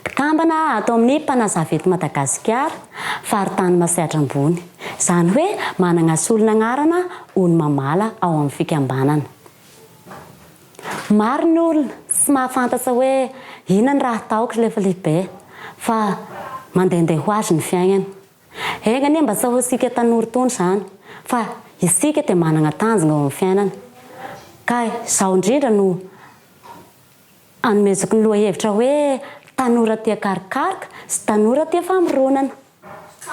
Mpikambana ato amin'ny Mpanazava eto Madagasikara, Faritany Masehatra Ambony. Izany hoe manana solon'anarana ho ny mamala ao amin'ny fikambanana. Maro ny olona tsy mahafantatra hoe inona ny raha ataoko rehefa lehibe fa mandehandeha ho azy ny fiainana. Enga anie mba tsy ahoantsika tanora itony izany fa isika dia manana tanjona eo amin'ny fiainana ka izao indrindra no Anomezako ny lohahevitra hoe Tanora tia karokaroka sy tanora tia famoronana.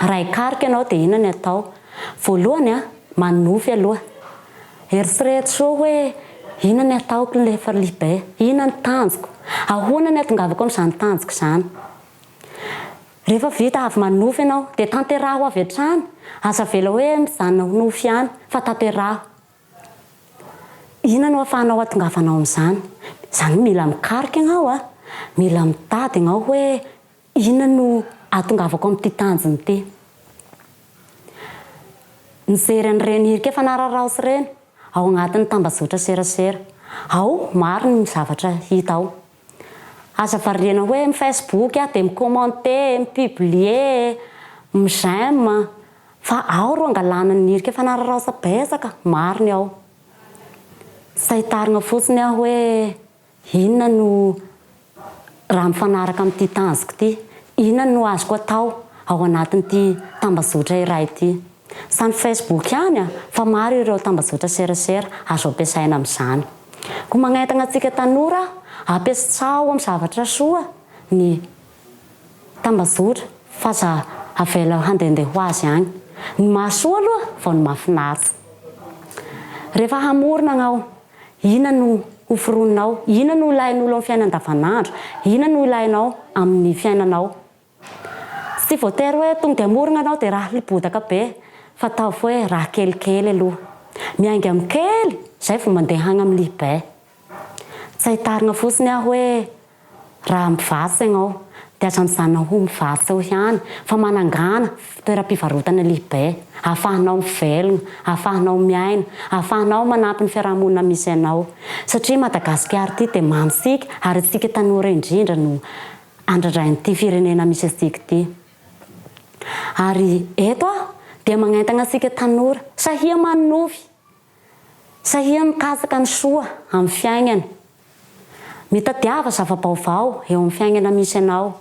Raha hikaroka ianao dia inona ny atao? Voalohany, manonofy aloha. Eritrereto soa hoe, Inona ny ataoko rehefa lehibe? Inona ny tanjoko? Ahoana ny atongavako amin'izany tanjoko izany? Rehefa vita avy manonofy ianao dia tanteraho avy hatrany. Aza avela hoe mijanona ho nofy ihany fa tanteraho. Inona no ahafahanao hahatongavanao amin'izany? Izany hoe mila mikaroka ianao a, mila mitady ianao hoe inona no ahatongavako amin'ity tanjona ity. Mijery an'ireny hirika efa nararaoso ireny ao anatin'ny tambajotra serasera ao, maro ny zavatra hita ao. Aza variana hoe mi Facebook aho dia mi commenter, mi publier, mi j'aime fa ao ro angalana ny hirika fanararaosa betsaka maro ny ao. Sahy tarigna fotsiny aho hoe inona no raha mifanaraka amin'ity tanjoko ity, inona no azoko atao ao anatin'ity tambazotra iray ity. Izany Facebook ihany an! Fa maro ireo tambajotra serasera azo ampiasaina amin'izany. Koa magnentana antsika tanora ampiasao amin'ny zavatra soa ny tambajotra fa aza avela handehandeha ho azy any. Ny mahasoa aloha vao ny mahafinaritra. Rehefa hamorona anao, inona no hoforoninao? Inona no ilain'olo amin'ny fiaina andavanandro? Inona no ilainao amin'ny fiainanao Tsy voatery hoe tonga hamorona ianao dia raha libodaka be fa ataovy hoe raha kelikely aloha. Miainga amin'ny kely izay vao mandeha hagny amin'ny lihibe. Tsy ahitarina fotsiny aho hoe raha mivarotra ianao dia aza mijanona ho mivarotra eo ihany fa manangana toeram-pivarotana lihibe ahafahanao mivelona, ahafahanao miaina, ahafahanao manampy ny fiarahamonina misy anao satria Madagasikara ity dia mamintsika ary isika tanora indrindra no andradrain'ity firenena misy antsika ity. Ary eto aho dia magnentana antsika tanora sahia manonofy, sahia mikatsaka ny soa amin'ny fiainana, mitadiava zava-baovao eo amin'ny fiainana misy anao,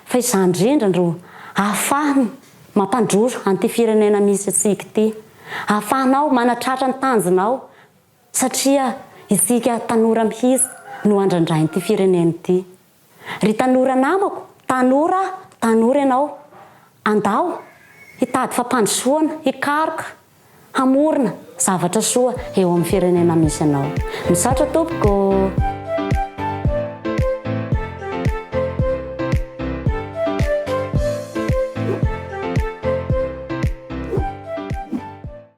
fa izany indrindra no ahafahana mampandroso an'ity firenena misy antsika ity, ahafahanao manatratra ny tanjonao satria isika tanora mihitsy no andrandrain'ity firenena ity. Ry tanora namako, tanora aho, tanora ianao, andao hitady fampandrosoana, hikaroka, hamorona zavatra soa eo amin'ny firenena misy anao. Misaotra tompoko.